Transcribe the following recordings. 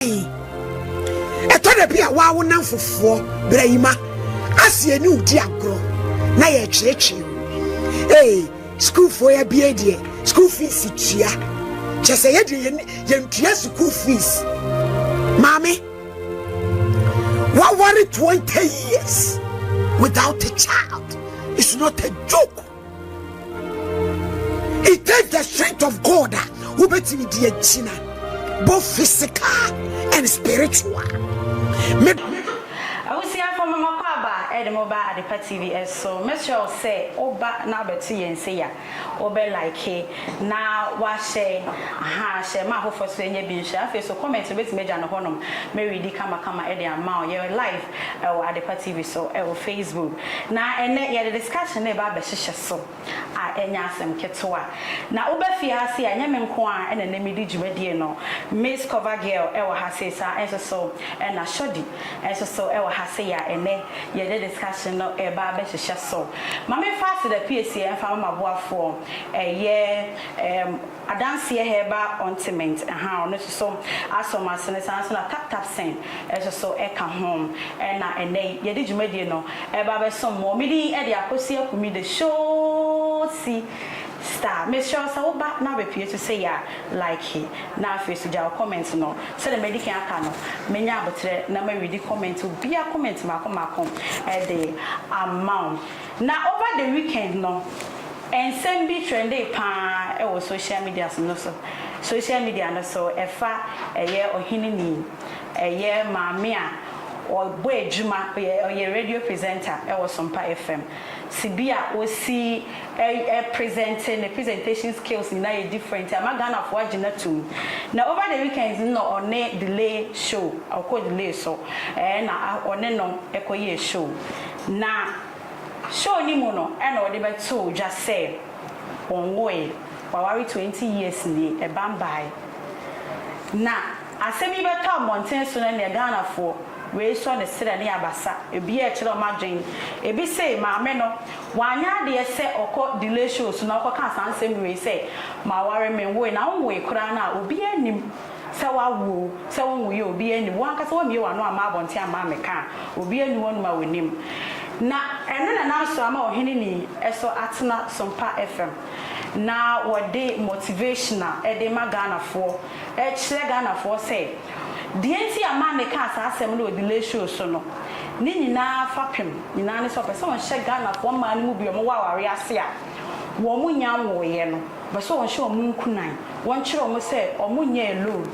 yi. Ɛtɔ da bi a waa wo namfofoɔ brɛyima aseɛ ne wodi agorɔ na yɛkyerɛkyerɛ mu. Ee, sukuufoɔ ya bie deɛ sukuu fees tua. Kyɛ sɛ yɛ deɛ yɛntua sukuu fees. Maame, waware 20 years without a child. It's not a joke. It takes the strength of God a wobɛtumi de agyina both physical and spiritual. Abusuafo mo mɔkɔ aba ɛde mo ba Adepa TV ɛso. Mɛsrɛ wo sɛ woba na abɛto yɛn nsa yi a, wobɛ like na wahyɛ ha hyɛ ma afoforɔ so ɛnyɛ bi nhyɛ. Afei so comment no bɛtumi agya no hɔnom mɛredi kamakama ɛde ama wo. Yɛwɔ live. wɔ Adepa TV so wɔ Facebook. Na ɛnnɛ yɛde discussion no reba abɛhyehyɛ so a ɛnyɛ asɛm ketewa. Na woba fie ha sei a ɛnyɛ me nko ara na na medi dwumadie no. Miss Cover Girl wɔ ha sei saa ara nso so na Shorty nso so wɔ ha sei a ɛnnɛ yɛde discussion no reba abɛhyehyɛ so. Ma memfa Aseda Piesie mfa ma m'aboafoɔ ɛyɛ ɛɛm. Adanseɛ herbal ointment ha ɔno nso so asomasene saa nso na taptapsen nso so ka ho ɛna ɛnɛ yi yɛde dwumadie no ɛba abɛsom mo me din ɛde Akosi Akumi the showsi star mesrɛ wo sɛ wo ba na abɛpue so sei a like na afei nso gya wo comment no sɛdeɛ madi kan aka no mɛnya aboterɛ na ma readi comment obiara comment mmaako mmaako ɛde ama wo na over the weekend no. Nsɛm bi trɛndee paa wɔ sohyia media so no so sohyia media no so ɛfa ɛyɛ ɔhene ni ɛyɛ maame a ɔbɔ adwuma ɔyɛ ɔyɛ radio presenter wɔ sompa FM si bi a ɔsi ɛ ɛ presente ne presentation skills nyinaa yɛ different ama ghanafoɔ agye no atum na over the weekend no na ɔne delay show ɔkɔ delay so ɛɛ na ɔne no kɔ yɛɛ show na Show no mu no na wɔde bɛtoo dwa sɛ wɔnwoe, wɔaware twenty years nie, ɛbam bae. Na asɛm yi bɛtɔ mmɔnten so no ɛneɛ Ghanafoɔ wei sɔ ne serɛ ne abasa, ebiaa ɛkyerɛ wɔn adwen. Ebi se maame no wanyɛ adeɛ sɛ ɔkɔ delay show so na ɔkɔkaa saa nsɛm wei sɛ maware menwoe, na wonwoe koraa no a obiaa nnim. sɛ woawo o, sɛ wonwoeɛ o, obiara nnim. Wo ankasa woammue w'ano amma abɔnten amma ammɛka a, obiara nni hɔnom a ɔnim. Na ɛno na na Nsoah ama Ɔheneni so atena Sompa FM, na wɔde motivation a ɛde rema Ghanafoɔ, rekyerɛ Ghanafoɔ sɛ, deɛ nti a Mame kaa saa asɛm no wɔ The Lay Show so no, ne nyinaa fapem nyinaa ne sɛ ɔpɛ sɛ ɔnhyɛ Ghanafoɔ mmaa no mu bi a wɔwɔ awareɛ ase a wɔnnya nwoeɛ no. Pɛ sɛ wɔhyɛ wɔn nkuran, wɔkyerɛ wɔn sɛ wɔnyɛ alone.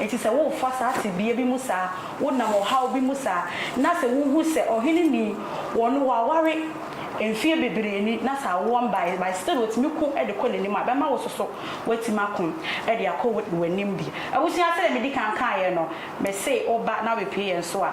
Enti sɛ worefa saa tebea bi mu saa, wonam ɔhaw bi mu saa, na sɛ wuhu sɛ ɔhene nni, wɔn wɔaware mfeɛ bebree ni, na sɛ awoɔ mmaeɛ, but still wɔtumi ko de kɔ n'anim a, ɛbɛma wo soso woatumi ako de akɔ w'anim bi. Abusua, sɛdeɛ medi kan kaeɛ no, mese woba na wobɛpue yɛn so a,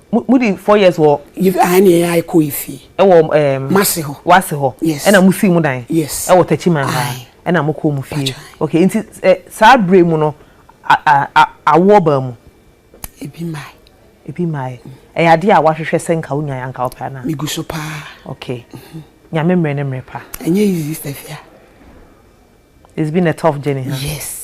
mo mo di four years wɔ. yi ahan ni ɛyɛ ɛkɔ ifi. ɛwɔ ɛɛm. masi hɔ. wasi hɔ. yes ɛna mo si mo dan. yes ɛwɔ tɛkyi man ha. ayi ɛna mo kɔ mo fie. okay nti ɛ saa bere mu no a a a awoɔ baa mu. ebi mae. ebi mae ɛyɛ adeɛ a wahwehwɛ sɛ nka wonya yɛ anka wopɛ anaa. mi gu so paa. okay nyame mmerɛ ne mmerɛ pa. ɛnyɛ easy stafia. it's been a tough journey ha. Huh? yes.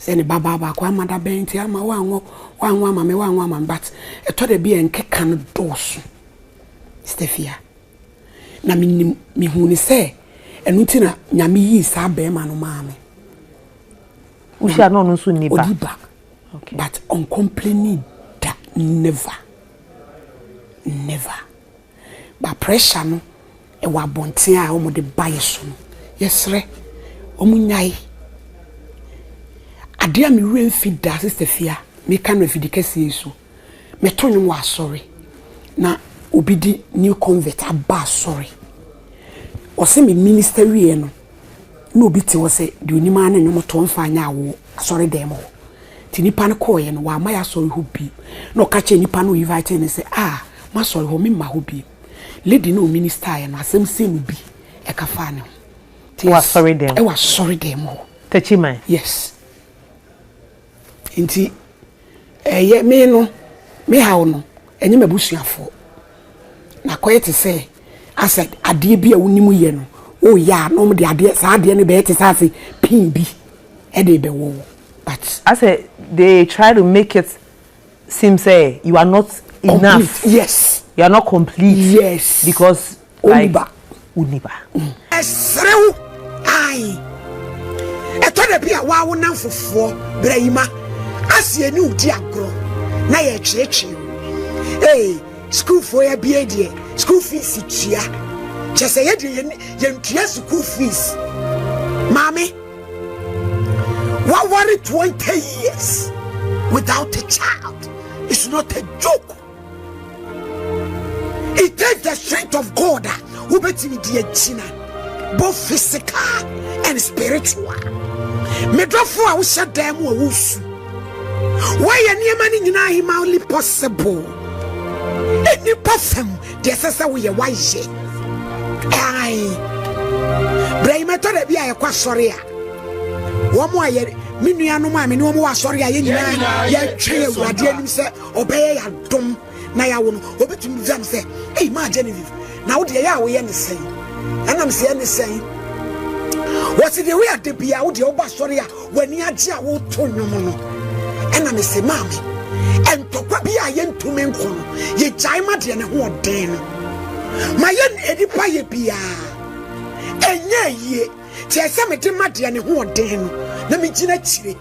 Sɛ ne babaa baako amma da bɛn nti amma wanwo wanwo ama me wanwo ama me but ɛtɔ da bi a nkeka no dɔɔso Stefia na menim mehu ne sɛ ɛno nti na nyame yii saa bɛrima no maa me wohyia na ɔno nso nni ba ɔdi ba but ɔncomplaining da never never Ba pressure no wɔ abɔnten a wɔn de ba yɛ so no yɛsrɛ wɔn nyae. Adeɛ a me werɛ mfi da sister fia me ka no afidi kɛseɛ yi so me to nwom wɔ asɔre na obi di new convert aba asɔre ɔse me minister wie no. na obi te hɔ sɛ deɛ onim ara ne nnwom to mfa nyɛ awoɔ asɔredan mu hɔ. Nti nipa no kɔɔeɛ no, wamma yɛasɔre hɔ bi. Na ɔka kyerɛɛ nipa no a ɔinvaetee no sɛ, ah, moasɔre hɔ, memma hɔ bi. Lady no a ɔministaeɛ no, asɛm sei na obi ka faa ne ho. Wɔ asɔredan mu? Wɔ asɔredan mu hɔ. Takyiman? Yes. Enti ɛyɛ me no me haw no, ɛnyɛ m'abusuafoɔ. Na akɔyɛ te sɛ asɛ adeɛ bi a wonim yɛ no woyɛ a na wɔn de adeɛ saa adeɛ no bɛyɛ te sɛ asɛ pin bi ɛde rebɛwɔ wo but. Asɛ they try to make it seem sɛ you are not enough. Complete yes. You are not complete. Yes. Because. Ɔnni ba. Ɔnni ba. Ɛsere wo. Ae. Ɛtɔ da bi a waa wo namfofoɔ bra yi ma ase ɛne wo di agorɔ na yɛretweretwe. Ee, sukuufoɔ yɛ bie deɛ school fees tua. Kyɛ sɛ yɛ deɛ yɛntua school fees. Maame, waware 20 years without a child. It's not a joke. It takes the strength of God a wobɛtumi de agyina both physical and spiritual. Medɔfo a wohyɛ dan mu a wosu. Woayɛ nneɛma no nyinaa humanly possible. Nnipa fam deɛ ɛsɛ sɛ woyɛ woayɛ. Ae. Berɛ yi mɛtɔ da bi a yɛkɔ asɔre a wɔn a yɛ me nuanom a me ne wɔn wɔ asɔre a yɛn nyinaa yɛtwɛn awurade anim sɛ ɔbɛyɛ yɛ adom na yɛawo no ɔbɛtumi gyam sɛ ei maa genevieve na wodeɛ yɛ a woyɛ ne sɛn ɛnam sɛ yɛ ne sɛn wɔsi deɛ woyɛ ade bia wodeɛ woba sɔre a w'ani agye a woto nnwom no ɛna me se maame ɛntɔkwa bi a yɛntumi nkɔ no yɛgyae ma deɛ ne ho ɔden no ma yɛ nnipa yɛ biaa ɛnyɛ yie kyerɛ sɛ mede ma deɛ ne ho ɔden no na megyina akyire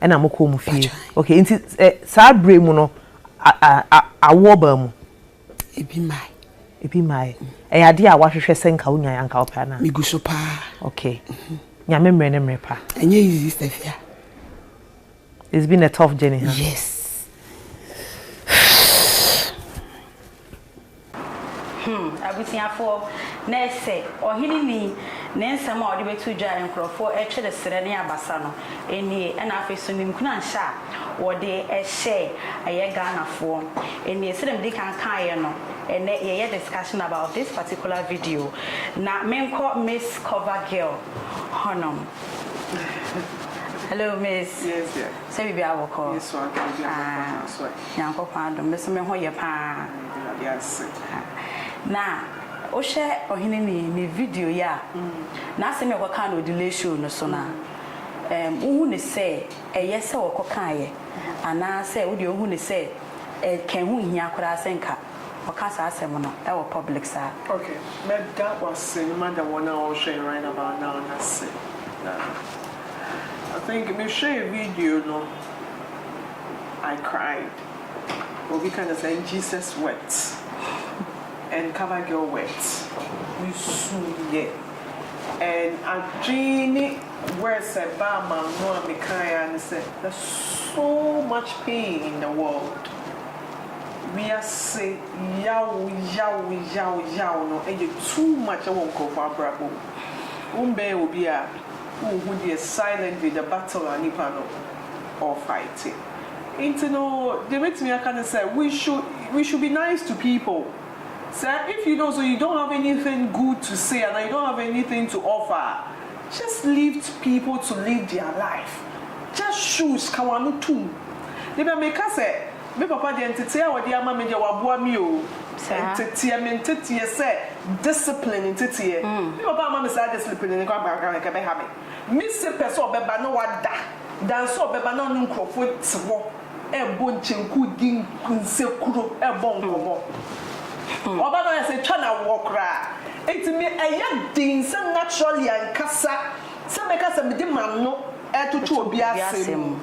ɛna mo kɔɔ mo fie okay nti ɛ saa bere mu no a a a awoɔ baa mu. ebi mae. ebi mae ɛyɛ adeɛ a wahwehwɛ sɛ nka wonya anka wopɛ anaa. megu so paa. okay nyame mmerɛ ne mmerɛ pa. ɛnyɛ easy stefia. it's been a tough journey huh? yes. Hmm, abusuafoɔ, na ɛsɛ ɔhene ni ne nsɛm a ɔde bɛto dwa a nkurɔfoɔ retwere serɛ ne abasa no nie, ɛna afei nso ne nkuranhyɛ a wɔde hyɛɛ yɛ Ghanafoɔ nie. Sɛdeɛ medi kan kaeɛ no, ɛnnɛ yɛyɛ discussion about this particular video, na menkɔ Miss Cover Girl hɔnom. Hello Miss, sɛ biribiara bɔkɔɔ? Ah. Nyankopɔn adom me so me ho yɛ paa na wo hwɛ ɔhene ni ne video yi a n'asɛm yi a ɔkɔ kaa no delay show no so no a um, wo hu ne sɛ ɛyɛ sɛ ɔkɔ kaa yɛ anaa sɛ wo deɛ wo hu ne sɛ ɛkɛn ho hia koraa sɛ nka ɔka saa asɛm no ɛwɔ public saa. Okay, mɛda wase na mada wɔn a wɔhwɛ yɛn right about now no ase na I think me hwɛ video no. I cried obi ka kyerɛ sɛ and Jesus wept and cover girl wept mesuiɛ and adwene ne words a ɛbaa m'ano a mekaeɛ ara ne sɛ there's so much pain in the world wiase yaw yaw yaw yaw no yɛ too much wɔ nkurɔfoɔ abrabɔ mu wombɛn obi a wonhu deɛ silently the battle a nipa no ɔrefighte nti no deɛ mɛtumi aka ne sɛ we should we should be nice to people sɛ if you know so you don't have anything good to say anaa you don't have anything to offer a just leave people to live their life just shush ka wɔn ano tum ne bɛ meka sɛ me papa deɛ nteteɛ a ɔde ama me deɛ waboa me o nteteɛ me nteteɛ sɛ discipline nteteɛ me papa amma me saa discipline no koraa koraa nka ɛbɛha me. Mise pɛ sɛ ɔbɛba na wada da nso ɔbɛba na ɔne nkurɔfoɔ te hɔ rebɔ nkyenku, di nsekuro, rebɔ nkɔmmɔ. Ɔba no ayɛ sɛ ɛtwa no awoɔ koraa. Nti me ɛyɛ den sɛ naturally ankasa sɛ mɛka sɛ mede m'ano retoto obi asɛm mu.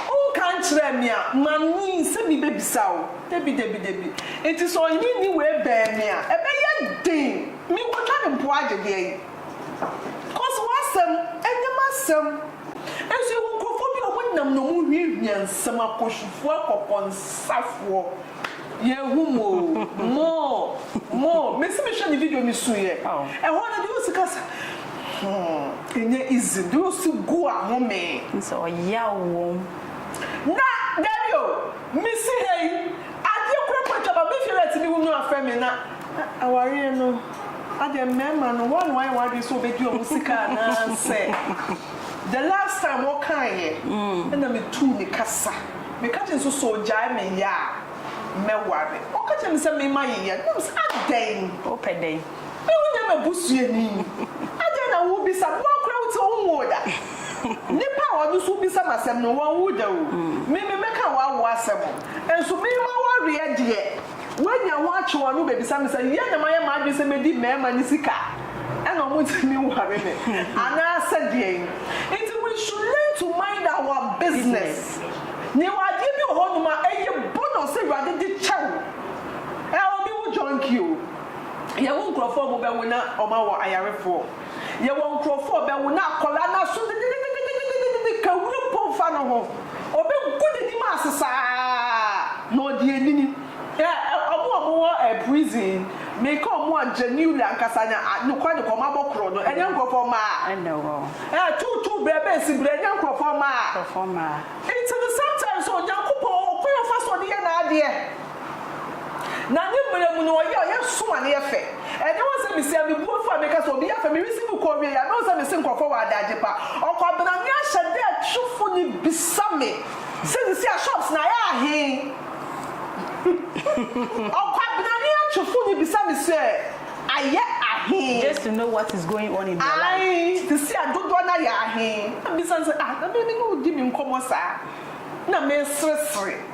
Wonka nkyerɛɛ me a manyin sɛ mebɛbisa wo. Dabi, dabi, dabi. Nti sɛ ɔnyinyi wei bɛn me a, ɛbɛyɛ den. Mekɔtwa no mpo agye deɛn? Cos w'asɛm ɛnyɛ m'asɛm nso yɛwɔ nkurɔfoɔ bi a ɔmo nam na ɔmo hwiahwia nsɛm akɔhwifoɔ akɔkɔnsafoɔ yɛhu mo oo moo moo mesi mehwɛ ne video mesuiɛ ɛhɔ no deɛ ɔsi kasa hmm ɛnyɛ easy deɛ ɔsi gu a homee Nso ɔyaw wom. Na dabi o mesi ha yi adeɛ kura kɔ atwa ba mefie na timi wo nua frɛ me na awareɛ no. Adɛn mmarima no wɔn wayɛ wɔn adwene sɛ wɔbɛdi wɔn sika anaasɛ the last time ɔkaeɛ ɛna metuu ne ka sa meka kyerɛ no sɛ sɛ ɔgyae me yɛ a mɛware ɔka kyerɛ me sɛ me mayeyɛ no na me sɛ adɛn Wopɛ dɛn? me wonyɛ m'abusuani adɛn na wobisa me woa koraa wote wonwoo da nnipa a wɔn nso wobisa me asɛm no wɔnwo da o me me mɛka w'awoɔ asɛm nso me mawareɛ deɛ Wanya ho atwe wɔn ano bebisa me sɛ, Yɛn na mayɛ m'adwene sɛ medi mmarima no sika a, ɛna wɔntumi nware me anaasɛ deɛn? Nti we should learn to mind our business. Mewɔ adeɛ bi wɔ hɔ nom a ɛyɛ bonus sɛ Awurade de kyɛ wo. Ɛ obi wo junkie o. Yɛwo nkorɔfoɔ a wɔbɛwo na wɔawɔ ayarefoɔ. Yɛwɔ nkurɔfo a ɔbɛwo na akwadaa no aso dededededededede ka wura mpo mfa no ho. Ɔbɛgu n'anim ase saa na ɔde anini. Ɛ ɛ ɔmo a ɔmo wɔ ɛ prison, meka ɔmo a genuinely ankasa nya a nokwa nokwa ɔmo abɔ koro no, ɛnyɛ nkurɔfoɔ mma a. Ɛna wɔ. Ɛ tuu tuu brɛ bɛ si brɛ ɛnyɛ nkurɔfoɔ mma a. Nkurɔfoɔ mma a. Nti no sometimes Onyankopɔn ɔwɔ kwan a ɔfa so de yɛ n'adeɛ. Na ne mmerɛ mu no ɔyɛ a ɔyɛ som a ne yɛ fɛ. Ɛnyɛ wɔn sɛ mesia me buafo a meka sɛ obi yɛ fɛ, meresi mu kɔ ɔwieyɛ anaa ɔsɛ mese nkurɔfoɔ wɔ adagye pa. Ɔkwabena me ahyɛ dɛ twofo no bisa me sɛ sisi a shops no ayɛ ahe? Ɔkwabena me atwofo no bisa me sɛ ayɛ ahe? Just to know what is going on in their life. Ae, sisi a dodoɔ no ayɛ ahe? Na mebisa no sɛ ah na me ne wo di me nkɔmmɔ saa na meseresere.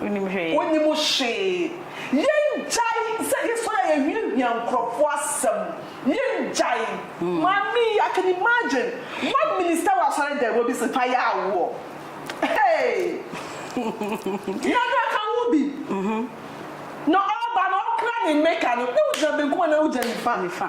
Wonim hwee. Wonim hwee. Yɛngyae sɛ yɛsɔre a yɛhwiahwia nkurɔfoɔ asɛm. Yɛngyae. Maame yi, I can imagine. One minister wɔ asɔredan mu, obi se fa yɛ awoɔ. Hey! Yɛda ka wo bi. Na ɔba no, ɔkra ne mmeka no, na wogyina benkum anaa wogyina nifa? Nifa.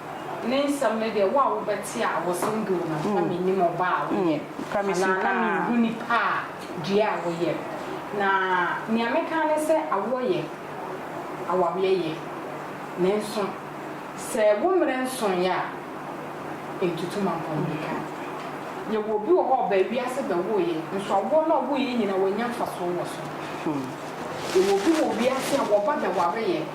Ne nsɛm no deɛ, wo a wobɛte a wɔsem doo no, na mennim ɔba a woyɛ, anaa na menhu nipa a dua a woyɛ. Na nea meka ara ne sɛ, awoɔ yɛ, awareɛ yɛ, nanso sɛ wo mmerɛ nsoeɛ a, ntutu mampɔ mmirika. Yɛwɔ obi wɔ hɔ a ɔbaa wiase bɛwoeɛ, nso awoɔ no a ɔwoeɛ nyinaa, wannya mfasoɔ wɔ so. Yɛwɔ obi wɔ wiase a wɔba bɛwareeɛ.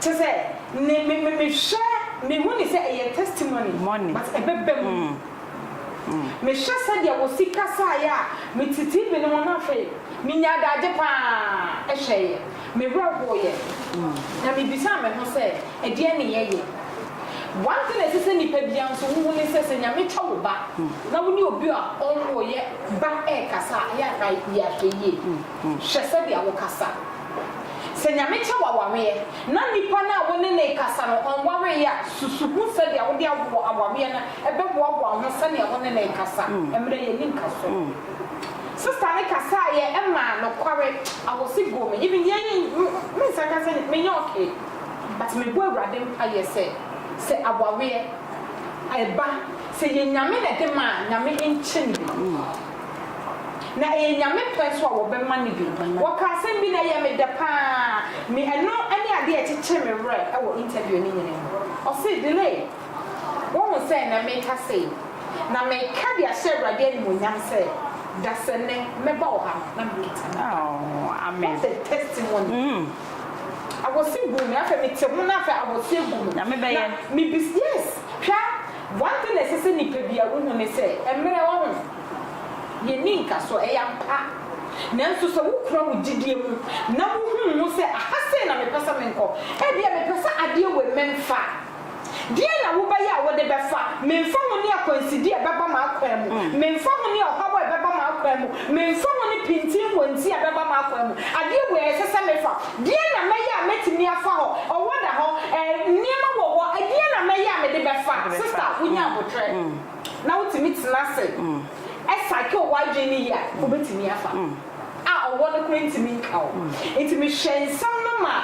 Te sɛ ne me me mehwɛ mehu ne sɛ ɛyɛ testimony Money. but ɛbɛba mu. Mehwɛ sɛdeɛ wɔsi kasaeɛ a mete TV no ho na afei menya adagye pa ara hwɛeɛ. Mewerɛ hoeɛ na mebisaa me ho sɛ ɛdeɛn ne yɛyɛ. One thing a ɛsɛ sɛ nipa biara nso wohu ne sɛ sɛ Nyame tɔ wo ba na wo ne obi a ɔnwoeɛ ba ɛrekasa a ɛyɛ a fa yɛ ahwɛyie. Hwɛ sɛdeɛ wokasa. Sɛ Nyame kyɛ wo awareɛ na nipa no a wo ne no rekasa no ɔnwareeɛ a, susu ho sɛdeɛ wode awoɔ awareɛ no bɛboaboa ho sɛdeɛ wo ne no rekasa mmerɛ yɛnni nkasoɔ. Sista no kasaeɛ maa nokware I was ego me even yei me nsa ka sɛ menyɛ okay but mebɔ Awurade mpaeɛ sɛ sɛ awareɛ ɛba sɛ ɛyɛ Nyame na ɛde ma a Nyame nkyɛ no bi. Na ɛyɛ Nyame pɛ nso a wɔbɛma no bi. Wɔkaa asɛm bi na ɛyɛɛ me dɛ pa ara. Me, ɛno ne adeɛ a ɛkyekyee me werɛ wɔ interview no nyinaa mu. Ɔsee, Delay, woahu sɛ ɛnnɛ meka sei, na meka de ahyɛ Awurade animuonyam sɛ, dasɛnnɛ mɛba wɔ ha no, na mekita me ba. What a testimony! Awɔse guu me, afei mete ho na afei awɔse agu me. Nyame bɛyɛ. Na mebisa, yes, hwɛ One thing a ɛsɛ sɛ nipa biara wohu ne sɛ mmerɛ wɔ ho yɛ ni nkasoɔ, ɛyɛ ampa. Nanso sɛ wo kura wo gyidie mu na wo hu ho sɛ aha sei na me pɛ sɛ me nkɔ, ɛbia me pɛ sɛ adeɛ wei me nfa a, deɛn na wo bɛ yɛ a wo de bɛ fa? Me nfa ho ne akwansidie a ɛbɛba m'akwan mu, me nfa ho ne ɔhaw a ɛbɛba m'akwan mu, me nfa ho ne pintinwɔnti a ɛbɛba m'akwan mu, adeɛ wei a ɛsɛ sɛ me fa. Deɛn na mɛyɛ a mɛtumi afa hɔ? Ɔwɔ da hɔ, eh, nneɛma wɔ hɔ, ɛdeɛn na mɛyɛ a mede bɛfa? Sista, wonya aboterɛ na wotumi tena ase cycle w'adwene no yie a, wobɛtumi afa a ɔwɔ no koraa ntumi nka wo. Nti mehwɛ nsɛm no ma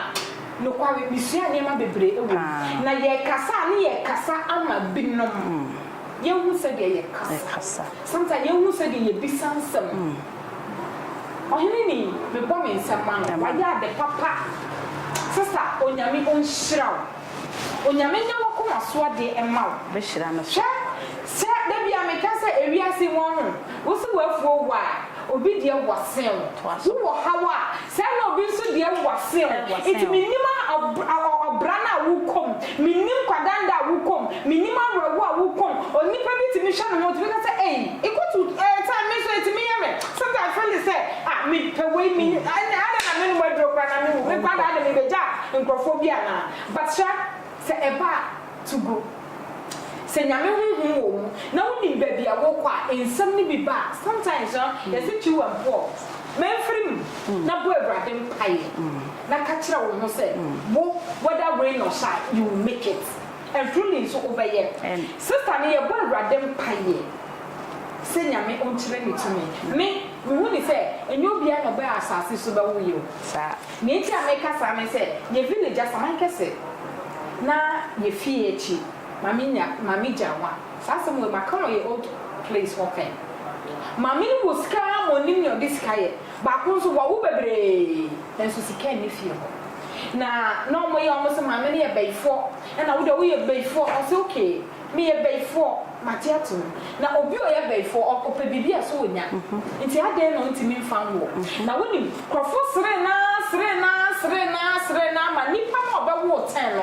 nokware mesuaa nneɛma bebree wɔ mu. Na yɛkasa a ne yɛkasa ama binom. Yɛhu sɛdeɛ yɛkasa. Sometimes yɛhu sɛdeɛ yɛbisa nsɛm. Ɔhene ni mebɔ me nsam ma no wayɛ ade papa sesa onyame onhyira wo onyame nyɛ wakoma so adeɛ ɛma wo hwɛ sɛ da bia meka sɛ ewiase mu ɔho wo se wafuo wo a obi deɛ wɔ sen wo wo wɔ haw a Sɛɛ na obi nso deɛ wo w'asɛn o, nti mennim ɔbra no a wokɔ mu, mennim kwadanda a wokɔ mu, mennim awerɛhoɔ a wokɔ mu, onipa bi tumi hwɛ ne ho tumi ka sɛ ei ikɔ to eh time me nso ɛtumi yɛ me, sometimes feel it sɛ ah me pɛ wei me ɛnɛ adɛn na menom aduro koraa na mewu, me nkwa daa deɛ mebɛgya nkorɔfoɔ bi anaa, but sha sɛ ɛba a to go. Sɛ Nyame honhom wɔ mu na wonim baabi a wokɔ a nsɛm no bi ba a, sometimes no yɛse twiw mpoɔ, manfiri mu na bɔ Awurade mpaeɛ na ka kyerɛ wo ho sɛ wo whether rain or shine you will make it and truly nso wobɛyɛ. Sister no yɛbɔ Awurade mpaeɛ sɛ Nyame ɔnkyerɛ ne tumi. Me, mehu no sɛ ɛnyɛ obiara na ɔbɛɛ asase so bɛwoyɛ o. Nea enti a meka saa ne sɛ, yɛn village asaman kɛse na yɛn fie akyi maame nya maame gya nwa. Saa asɛm wei maka wɔ yɛn old place hɔ pɛn. Maame no wɔ sika ara ma ɔnim nea ɔde sika yɛ. Baako nso wawo bebree nanso sika nni fie hɔ. Na na wɔyɛ wɔn se maame no yɛ bayifoɔ ɛna wo deɛ woyɛ bayifoɔ ɔse okay. Meyɛ bayifoɔ, mate atom. Na obi a ɔyɛ bayifoɔ, ɔ, ɔpɛ biribi a, so ɔnya? Nti adɛn na ɔntumi mfa nwoɔ? Na wonim, nkurɔfoɔ seree no ara, seree no ara, seree no ara, seree no ara ma nipa no a ɔbɛwoo Tɛn no,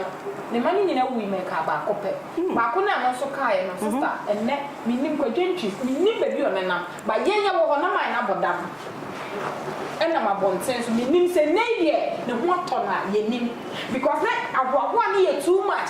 ne mma no nyinaa wuui ma ɛkaa baako pɛ. Baako no a ɛno nso kaeɛ no, sista, ɛnnɛ, mennim, Kwadwo Ntwi, mennim baabi a ɔnenam, but yɛn yɛwɔ hɔ, na mayɛ no abɔdam, ɛnam abɔnten so, mennim, sɛ nnɛ yi deɛ, ne ho atɔ no a, yɛnnim, because na ahoahoa no yɛ too much.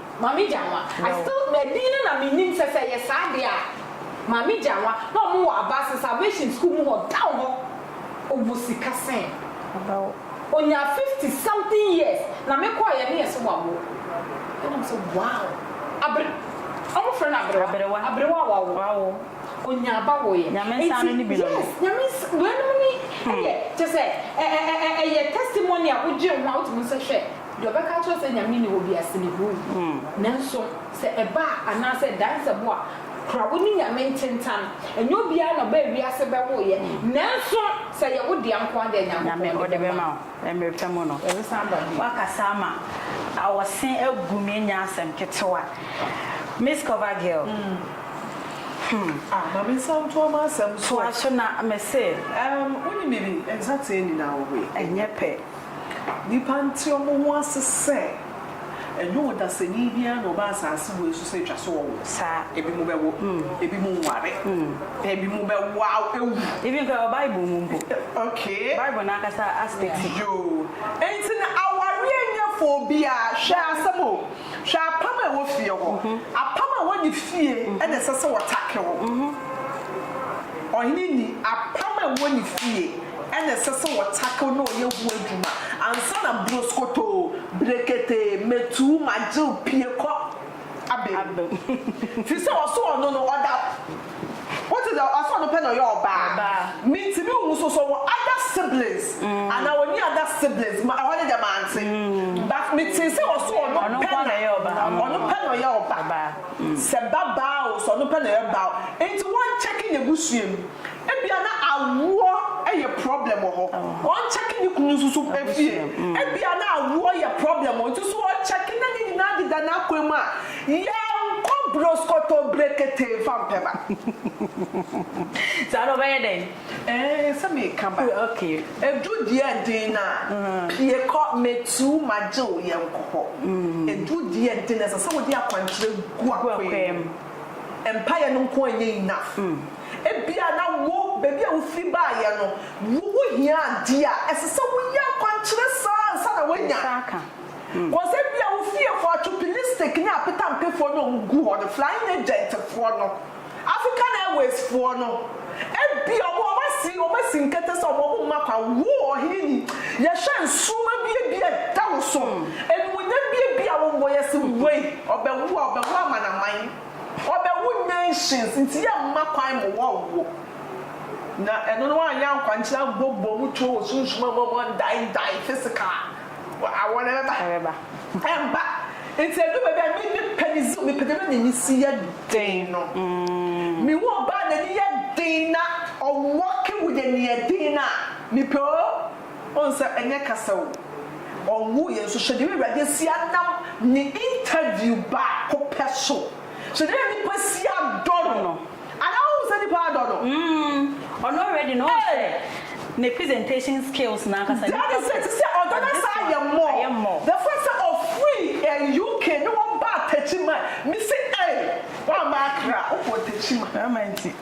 Maame Gyanwa, I still, na din no na me nim sɛ sɛ ɛyɛ saa deɛ a, Maame Gyanwa, na ɔmo wɔ Abaase Salvation School mu hɔ down hɔ, ɔwɔ sika sɛn? About. Ɔnyaa fifty something years, na me kɔɔeɛ no yɛse wawo, ɛna me sɛ wow, Abre, ɔmo frɛ no Abrewa, Abrewa, Abrewa a wawo, wawo, ɔnyaa ba woeɛ, Nyame nsa no ne bi no, yes, Nyame nsa, weinom ne, ɛyɛ, kyɛsɛ, ɛ, ɛ, ɛ, ɛyɛ testimony a wogyee ho a wotumi hu sɛ hwɛ, Deɛ ɔbɛka akyerɛ wo sɛ Nyame nni hɔ biara, sɛ ne huu. Nanso sɛ ɛba a, anaasɛ ɛdansɛ bo a, kura wo ne Nyame ntentan. Ɛnyɛ obiara na ɔbaa wiase bɛwoeɛ, nanso sɛ ɛyɛ wo dea nko ara deɛ, Nyankopɔn de bɛma wo. Mmerɛ pa mu no, ɛbɛsan aba bio. Woakasa ama awɔse agu me ɛnyɛ asɛm ketewa Miss cover girl hmm. Ah ma me nsa ntoa m'asɛm so. Toa so na mese. Ɛɛm wonim biribi, nsateaa nyinaa wɔ hɔ yi. Ɛnyɛ pɛ. Nnipa nte wɔn ho ase sɛ ɛnyɛ ɔdasani biara na ɔba asase wei so sɛ ɛtwa sɛ ɔwo. Saa. Ebinom bɛwo, ebinom nware, ebinom bɛwo awu. Even koraa wɔ Bible mu mpo. Okay. Bible no ankasa aspect. Yoo. Enti na awareɛ nyɛ for obiara. Hwɛ asɛm o. Hwɛ apam a ɛwɔ fie hɔ. Apam a ɛwɔ ne fie na ɛsɛ sɛ ɔtake wo. Ɔhene ni apam a ɛwɔ ne fie. na ɛsɛ sɛ wɔ tackle na ɔyɛ ho adwuma ansa na broskotoo, breketee, metuu, magyew, pue kɔ abem. Firi sɛ ɔso ɔno no ɔda wote deɛ ɔso ɔno pɛ na ɔyɛ ɔbaa. Mentumi nhu nso sɛ ɔwɔ other siblings anaa ɔnni other siblings ma ɛhɔ no deɛ mante but metee sɛ ɔso ɔno pɛ na ɔno pɛ na ɔyɛ ɔbaa sɛ ba baa o sɛ ɔno pɛ na ɔyɛ baa o nti wɔnkyɛke n'abusua mu. Ebia na awoɔ yɛ problem wɔ hɔ, ɔnkyɛke ne kunu nso so fie. Ebia na awoɔ yɛ problem wɔ nti so ɔkyɛke na ne nyinaa deda n'akwan mu a, yɛnkɔ broskoto brekete mfa mpɛ ba. Saa no ɔbɛyɛ dɛn? Ee, sɛ meka ba. Ɛduru deɛ ɛden no a, pue kɔ, mɛtuu magye wo, yɛnkɔ hɔ. Ɛduru deɛ ɛden no a, ɛsɛ sɛ wode akwankyerɛ gu akwaa mu. Mpaeɛ no nko ara nyɛ enough. Ebia na wo, baabi a wufiri baeɛ no, wuhu hia a adeɛ a ɛsɛ sɛ woyɛ akwankyerɛ saa ansa na woanya. Because ebia wo fiefoɔ, Atupilistics ne Apetampefoɔ no a wɔgu hɔ no, Flying Agentfoɔ no, African Airwaysfoɔ no, ebia wɔn, wɔasi, wɔasi nkete sɛ wɔn, wɔmma kwan. Wo, ɔhene ni, yɛhwɛ nsoromma bi a bi a ɛda wo so, animuonyam bi a bi a wommɔ, yɛse wei, ɔbɛwo a, ɔbɛwo amanaman. Ɔbɛwo nations nti yɛ mma kwan mo wɔn nwo na ɛno no anyɛ ankwankyerɛ ammɔ bɔ mu tuo wɔ sunsum a mo wɔn die die physical wɔ awɔ no ɛbɛba ɛbɛba ɛmba nti ɛdu baabi a me me pɛ me zi me pɛ bɛbi n'ani si yɛ den no me wu ɔbaa n'ani yɛ den na ɔwɔ ke wo yɛ neɛ den na me pɛ oo. Ohu sɛ ɛnyɛ kasa o. Ɔnwu yɛ nso hyɛ deɛ Awurade asi anam ne interview baako pɛ so. Hyɛ deɛ nnipa asi adɔ no. Anaa wohu sɛ nnipa adɔ no? Mm, ɔno already no wohu sɛ ne presentation skills no ankasa nnipa pɛ. That is it, te sɛ ɔdɔ no asan ayɛ more. The fact sɛ ɔfirii UK ne wɔbaa Techiman, mese ei, woamma Accra, wokɔɔ Techiman. Ɛma nti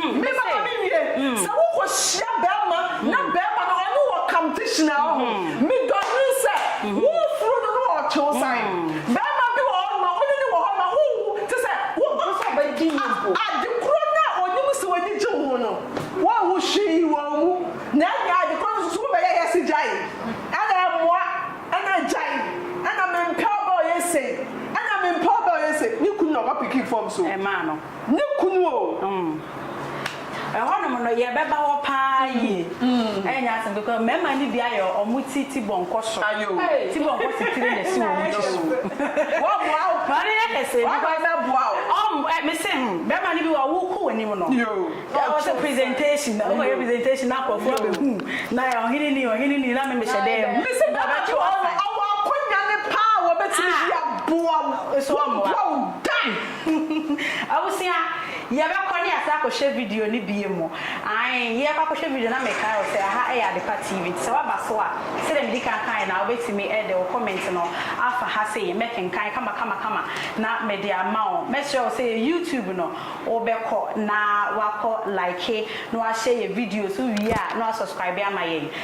Mema mame wie sɛ wokɔ hyia bɛɛma na bɛɛma no ɔne wɔ competition a ɔho me dɔ nwene sɛ wo furu no no ɔtwe wo sane bɛɛma bi wɔ hɔ no ma wone no wɔ hɔ ma ho wu te sɛ wo a ade korɔ no a ɔnim sɛ wani gye wo ho no wo wu hwee wɔ mu na ɛnyɛ ade korɔ no nso so wo bɛyɛ yɛ se gyae ɛna ɛmoa ɛna gyae ɛna me mpɛ ɔbɛ ɔyɛ sei ɛna me mpɛ ɔbɛ ɔyɛ sei ne kunu na ɔba piki fam so ɛmaa no. Ne kunu o! Mm. Ɛhɔnom no, yɛbɛba hɔ paa mm. yie. Mm. Ɛyɛ nyɛ asɛm kekɔ. Mmarima no bi ayɛ ɔmo ti ti bɔnkɔ so. Ayo. Ti bɔnkɔ si tiri na si wɔn ti so. Wɔboa o. Wɔn yɛ kɛse. Wɔboa bɛboa o. Ɔm ɛ mese hmm bɛrima no bi wɔ ɔwo kɔ w'anim no. Yo. Ɔsɛ presentation na ɔkɔ yɛ presentation na akɔfo abɛhu na ɔhene ni ɔhene ni na me mehyɛ dɛ mu. Mese bɛrima bi wɔ ɔwɔ akonnwa ne paa wɔbɛtumi bi aboa wo. Wɔboa wo da. Abusua, yɛbɛkɔ ne yɛasan akɔhwɛ video no bio mu. Ae, yɛrekɔ akɔhwɛ video no na mekae wo sɛ aha yɛ Adepa TV, nti sɛ woaba so a, sɛdeɛ medi kan kaeɛ no ara, wobɛtumi de wo comment no afa ha sei, mɛkenkan kamakamakama na mede ama wo. Mɛsrɛ wo sɛ yɛ YouTube no, wobɛkɔ na woakɔ like na woahyɛ yɛ videos, wowie a na woasubscribe ama yɛn.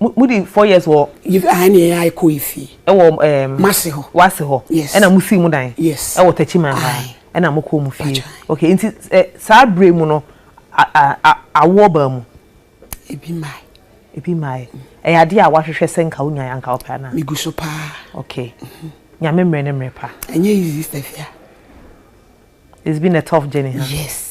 mo mo di four years wɔ. yɛ aha ne yɛn ayɛ kɔ efie. ɛwɔ ɛɛm. mase hɔ. wase hɔ. yes ɛna mo sii mo dan. yes ɛwɔ takyi man ha. ɛna mo kɔɔ mo fie. okay nti ɛ saa bere mu no a a a awoɔ baa mu. ebi mae. ebi mae ɛyɛ adeɛ a wahwehwɛ sɛ nka wonya yɛ anka wopɛ anaa. megu so paa. okay nyame mmerɛ ne mmerɛ pa. ɛnyɛ easy stafia. it's been a tough journey ha. Huh? yes.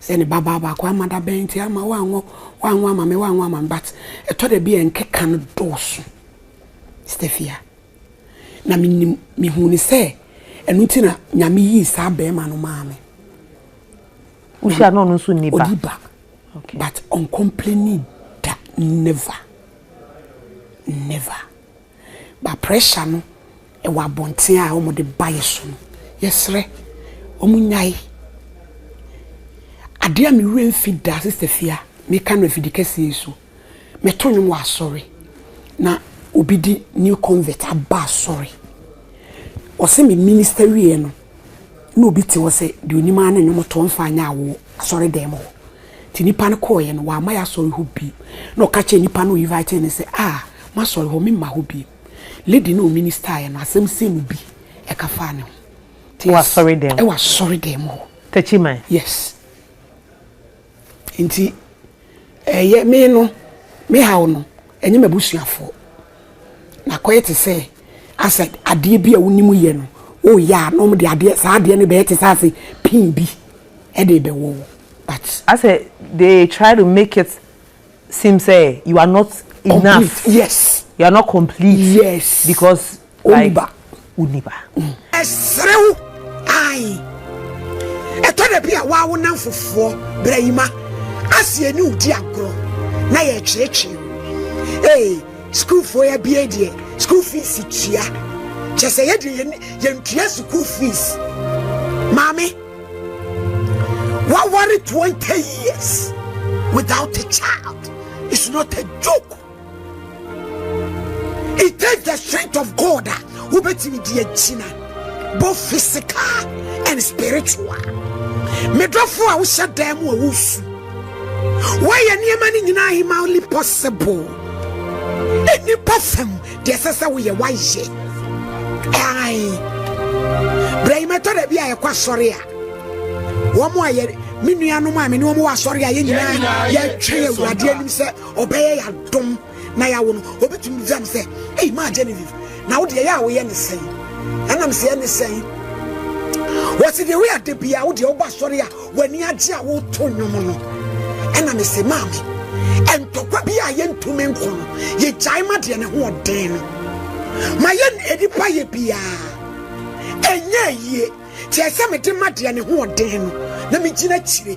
Sɛ ne babaa baako amma da bɛn nti amma wanwo wanwo ama me wanwo ama me but ɛtɔ da bi a nkeka no dɔɔso Stefia na menim mehu ne sɛ ɛno nti na nyame yii saa bɛrima no maa me wohyia na ɔno nso nni ba ɔdi ba but ɔncomplaini da never never Ba pressure no wɔ abɔnten a wɔn de ba yɛ so no yɛsrɛ wɔn nyae. Adeɛ a me werɛ mfi da sister fia me ka no afidi kɛseɛ yi so me to nwom wɔ asɔre na obi di new convert aba asɔre ɔsɛ me minister wie no na obi te hɔ sɛ deɛ ɔnim ara ne nnwom to mfa nyɛ awoɔ asɔredan mu hɔ. Nti nnipa no kɔeɛ no, wamma yɛn asɔre hɔ bi. Na ɔka kyerɛɛ nnipa no a ɔinvaetee no sɛ, Ah, m'asɔre hɔ, meremma hɔ bio. Lady no a ɔministaeɛ no, asɛm sei mu bi, ɛka faa ne ho. Wɔ asɔredan mu? Wɔ asɔredan mu hɔ. Takyiman? Yes. Enti ɛyɛ me no me haw no, ɛnyɛ m'abusuafoɔ. Na kɔyɛ te sɛ asɛ adeɛ bi a wonim yɛ no woyɛ a na wɔn de adeɛ saa adeɛ no bɛyɛ te sɛ asɛ pin bi ɛde bɛwɔ wo but. Asɛ they try to make it seem sɛ you are not enough. Complete yes. You are not complete. Yes. Because. Ɔnni ba. Ɔnni ba. Ɛsere wo. Ae. Ɛtɔ da bi a waa wo nnamfofoɔ bra yi ma ase ɛne wo di agorɔ na yɛkyerɛkyerɛ mu. Ee, sukuufoɔ yi abie deɛ school fees tua. Kyɛ sɛ yɛde yɛn yɛntua school fees. Maame, waware 20 years without a child. It's not a joke. it takes the strength of god a wobɛtumi de agyina both physical and spiritual medɔfo a wohyɛ dan mu a wosu woayɛ nneɛma no nyinaa humanly possible nnipa fam deɛ ɛsɛ sɛ woyɛ woayɛ ae berɛ yi mɛtɔ da bi a yɛkɔ asɔre a wɔn a yɛ me nuanom a me ne wɔn wɔ asɔre a yɛn nyinaa yɛtwɛn awurade anim sɛ ɔbɛyɛ yɛadom na yɛawo no ɔbɛtumi bisa no sɛ ei maa genevieve na wode ɛyɛ a woyɛ ne sɛn ɛnam sɛ ɛne sɛn wɔsi deɛ woyɛ ade bia wo deɛ woba sɔre a w'ani agye a woto nnwom no ɛna me se maame ɛntɔkwa bi a yɛntumi nko no yɛgyae ma deɛ ne ho ɔden no ma yɛ nnipa yɛ biaa ɛnyɛ yie kyerɛ sɛ mede ma deɛ ne ho ɔden no na megyina akyire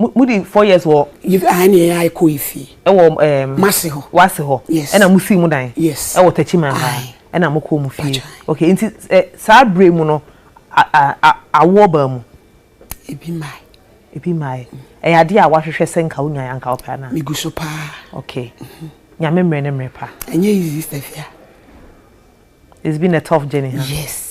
mo mo di four years wɔ. yi ahan ni ɛyɛ ɛkɔ efie. ɛwɔ ɛɛm. masi hɔ. wasi hɔ. yes ɛna mo si mo dan. yes ɛwɔ tɛkyi man ha. ɛna mo kɔ mo fie. okay nti ɛ saa bere mu no a a awoɔ baa mu. ebi maa. ebi maa yɛ ɛyɛ adeɛ a wahwehwɛ sɛ nka wonya yɛ anka wopɛ anaa. megu so paa. okay nyame mmerɛ ne mmerɛ pa. ɛnyɛ easy stafia. it's been a tough journey ha. Huh? yes.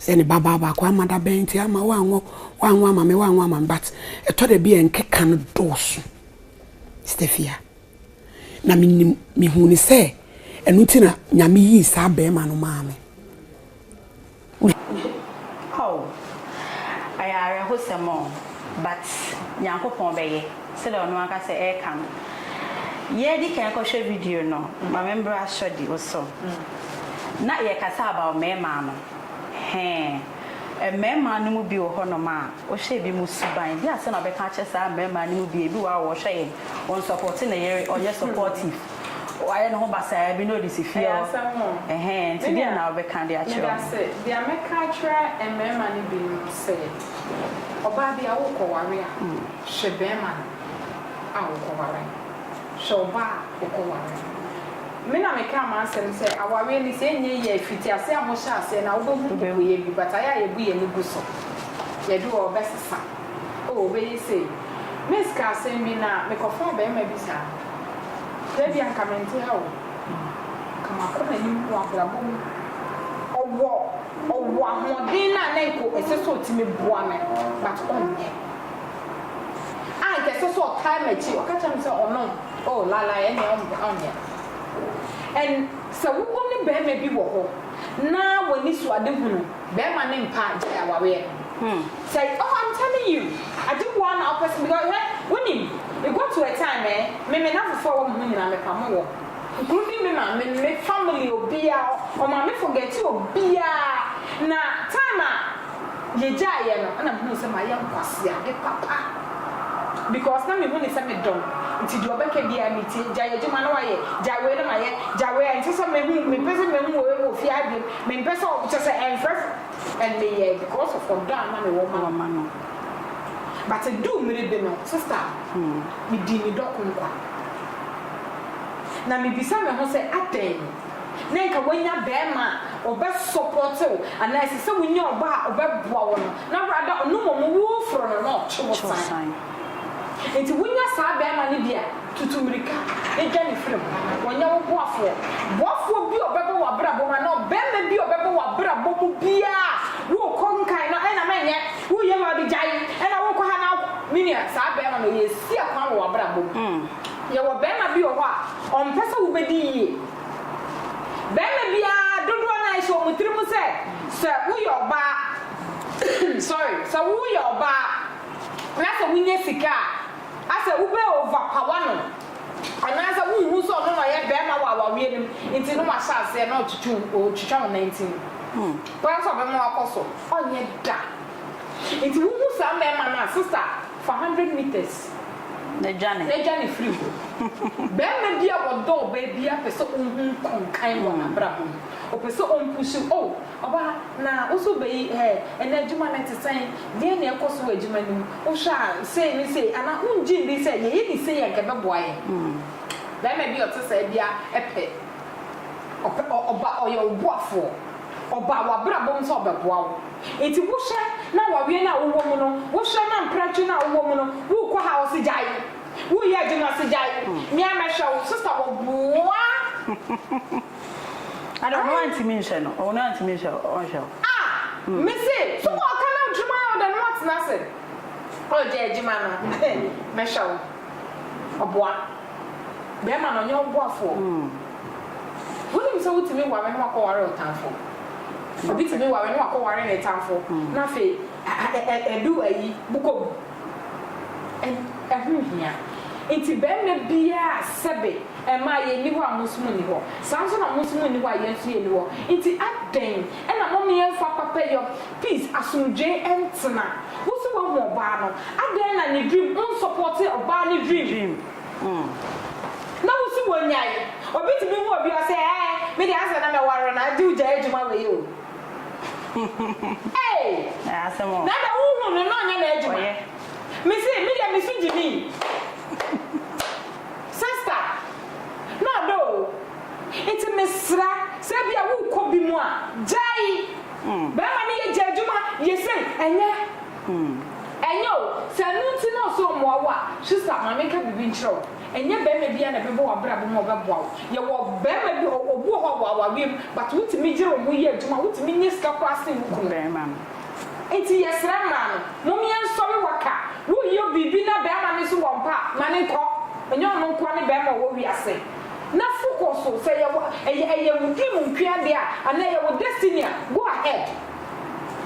Sɛ ne ba baa baako ama da bɛn nti ama wanwo wanwo ama me wanwo ama me but ɛtɔ da bi a nkeka no dɔɔso Stefia na menim mehu ne sɛ ɛno nti na nyame yii saa bɛrima no maa me. Oh ɛyɛ awerɛhosɛm o but Nyankopɔn bɛyɛ. Sɛdeɛ ɔno ankasa ɛreka no. Yɛredi kan kɔhwɛ video no, ma me mbra sɔ di wo so. Na yɛkasa about mɛɛma no. Hɛn. Mmɛɛma no mu bi wɔ hɔ nom a, wohwɛ ebi mo suban, bi a sɛ na ɔbɛka akyerɛ saa mmɛɛma no mu bi, ebi wɔ hɔ a wɔhwɛ yɛn, wɔn support ne yere, ɔnyɛ supportive, wayɛ ne ho basaa bi na ɔde si fie hɔ. Ɛhɛn. Nti deɛn na wobɛka de akyerɛ wɔn? Medase. Deɛ mɛka akyerɛ mmɛɛma no bi no sɛ. Ɔbaa bi a worekɔware a, hwɛ barima no a wokɔware no. Hwɛ ɔbaa a wokɔware no. Me na mekaa m'asɛm sɛ awareɛ no sɛ ɛnyɛ yie a ɛfiti aseɛ a mohyɛ aseɛ no a wobɛhu mmubuiɛ bi but ayɛ a yɛbu yɛn ani gu so. Yɛde wɔ ɔbɛsesa oh ɔbɛyɛ sei. Miss kaa asɛm bi na mekɔfaa barima bi saa na ebia nka mente ha o nka makɔ m'anim wɔ abrabɔ mu ɔwɔ Ɔwɔ ahoɔden no a na nka ɛsɛ sɛ ɔtumi boa me but ɔnyɛ. A nka ɛsɛ sɛ ɔtaa m'akyi, ɔka kyerɛ me sɛ ɔnom, oh lalae ɛnneɛ ɔmpɛ, ɔnyɛ. And sɛ wowɔ ne barima bi wɔ hɔ na w'ani so ade hunu, barima no mpa gyae awareɛ no. Sɛ, oh I'm telling you, ade wu ara na wopɛ sɛ, because hwɛ, wonim, it got to a time eh, me me nnamfofoɔ a ɛwɔ me ho nyinaa mepamo wɔn. Kunu ne me maame ne me family obiaa ɔma me forgɛte obiaa na time a yɛgyae yɛ no na mehunu sɛ mayɛ nkwaseade papa because na mehu ne sɛ medɔ no nti deɛ ɔbɛka biaa metie gyae adwuma na wayɛ gyae wei na mayɛ gyae wei ɛnsɛ sɛ mehu mempɛ sɛ mehu wei wɔ fie ha biom mempɛ sɛ kyerɛ sɛ ɛmfɛfo and meyɛɛ because of ɔdɔ a na mewɔ ma no but ɛduu mmere bi no sister medii me dɔ ko nkwa. Na mibisa me ho sɛ, adɛn? Nɛ nka woanya bɛɛma a ɔbɛ sɔpɔte wo anaa ɛsɛ sɛ wonya ɔba a ɔbɛ boa wo no na wora da ɔno mmom wo foro no na ɔtwe wo san. Nti wonya saa bɛɛma no bi a tutu mirika na dwane firi ho. Ɔnyɛ wo boafoɔ. Boafoɔ bi a ɔbɛ ba w'abrabɔ mu anaa ɔbɛɛma bi a ɔbɛ ba w'abrabɔ mu biaa woo kɔ nkan no ɛna mɛ nyɛ wo yɛ maa bi gyae ɛna wokɔ ha na menua saa bɛɛma no ɔyɛ ɛsi akwan wɔ w'abrabɔ mu. Yɛwɔ barima bi wɔ hɔ a, ɔmpɛ sɛ wobɛdi yie. Barima biara, dodoɔ no ara, ɛhyɛ wɔn tiri mu sɛ, sɛ woyɛ ɔbaa, sorry, sɛ woyɛ ɔbaa na sɛ wonya sika a, asɛ wobɛ over power no, anaasɛ wonhu sɛ ɔno na ɔyɛ barima wɔ awareɛ no mu, nti na wahyɛ aseɛ na ɔtwitwi wo, ɔtwitwa wo nantin. Woayɛ sɛ ɔbɛma wakɔ so? Ɔnyɛ da. Nti wohu saa mmarima no a, sister, fa hundred metres. Na dwane. Na dwane firi hɔ. Barima bi a ɔdɔ ɔbaa bi ara pɛ sɛ ɔhu nkonkan wɔ n'abrabɔ mu. Ɔpɛ sɛ ɔmpushe wo. Oh, ɔbaa, na wo nso wobɛyi ɛ? Ɛnnɛ adwuma no ɛte sɛn? Deɛn na ɛrekɔ so wɔ adwuma no mu? Wohwɛ a sei ne sei? Anaa wongye nni sɛ yɛyɛ no sei a anka ɛbɛboa yɛn? Barima bi a ɔte saa biara pɛ ɔba a ɔyɛ wo boafoɔ, ɔba a w'abrabɔ mu sɛ ɔbɛboa wo. Enti wohwɛ na waweɛ no a wowɔ mu no, wohwɛ na mprɛtwe no a wowɔ mu no, worekɔ ha a ɔse gyae, woreyɛ adwuma ɔse gyae, me ara mɛhwɛ wo, sista wɔboa Ada ɔno antumi nhwɛ no, ɔno antumi nhwɛ wo, ɔnhwɛ wo. Ah! Me se, so wɔ ɔka na adwuma yɛ wo dɛ na woatena ase, ɔregyae adwuma no, mɛhwɛ wo, ɔboa. Bɛrima no ɔnyɛ wo boafoɔ. Wonim sɛ wotumi ware na wakɔware wo tamfo. Obi tumi ware na wakɔware ne tamfo na afei ɛdu ayi bokɔ mu. Ɛho nhia. Nti bɛrima biara sɛbe mmaa yɛn nni hɔ a mo nso mo nni hɔ. Saa ara nso na mo nso mo nni hɔ a yɛn nso yɛn nni hɔ. Nti adɛn na mommeɛmfa papayɔ Peace, asomdwee ntena. Wo se woahu ɔbaa no, adɛn na ne dream wo nsɔpɔɔte ɔbaa no dream? Na wo se wonyae, obi tumi hu obi ɔse ɛɛ me deɛ ansa na mɛware no agye wo gyae adwuma wei o ei na adɛn wo hu no na ɔnyɛ n'adwuma me se me deɛ me so gyimi sɛsta na ɔdɔ o nti mesrɛ sɛ ebia worekɔ bi mu a gyae. Bɛɛma no yɛ gya adwuma yɛ sei ɛnyɛ ɛnyɛ o sɛ ɛno nti na ɔsɛ ɔmoa wo a sista ma me nka biribi nkyerɛ wo ɛnyɛ bɛɛma biaa na ɛbɛbɔ wabrabɔ mu a ɔbɛboa wo yɛ wɔ bɛɛma bi wɔ obi wɔ hɔ a ɔwɔ awareɛ mu but wo tumi yere wo ho yɛ adwuma wo tumi nya sika koraa sen wo kunu bɛɛma no nti yɛ srɛ mmaa no mom yɛ nsɔre wɔ ka wo yɛ biribi na bɛɛma no nso wɔ mpa a ma no nkɔ ɛnyɛ ɔno nkoa ne bɛɛma ɔwɔ wiase. Na fo kɔ so sɛ ɛyɛ wo ɛyɛ ɛyɛ wo dream nkoa deɛ a anaa ɛyɛ wo destiny a go ahead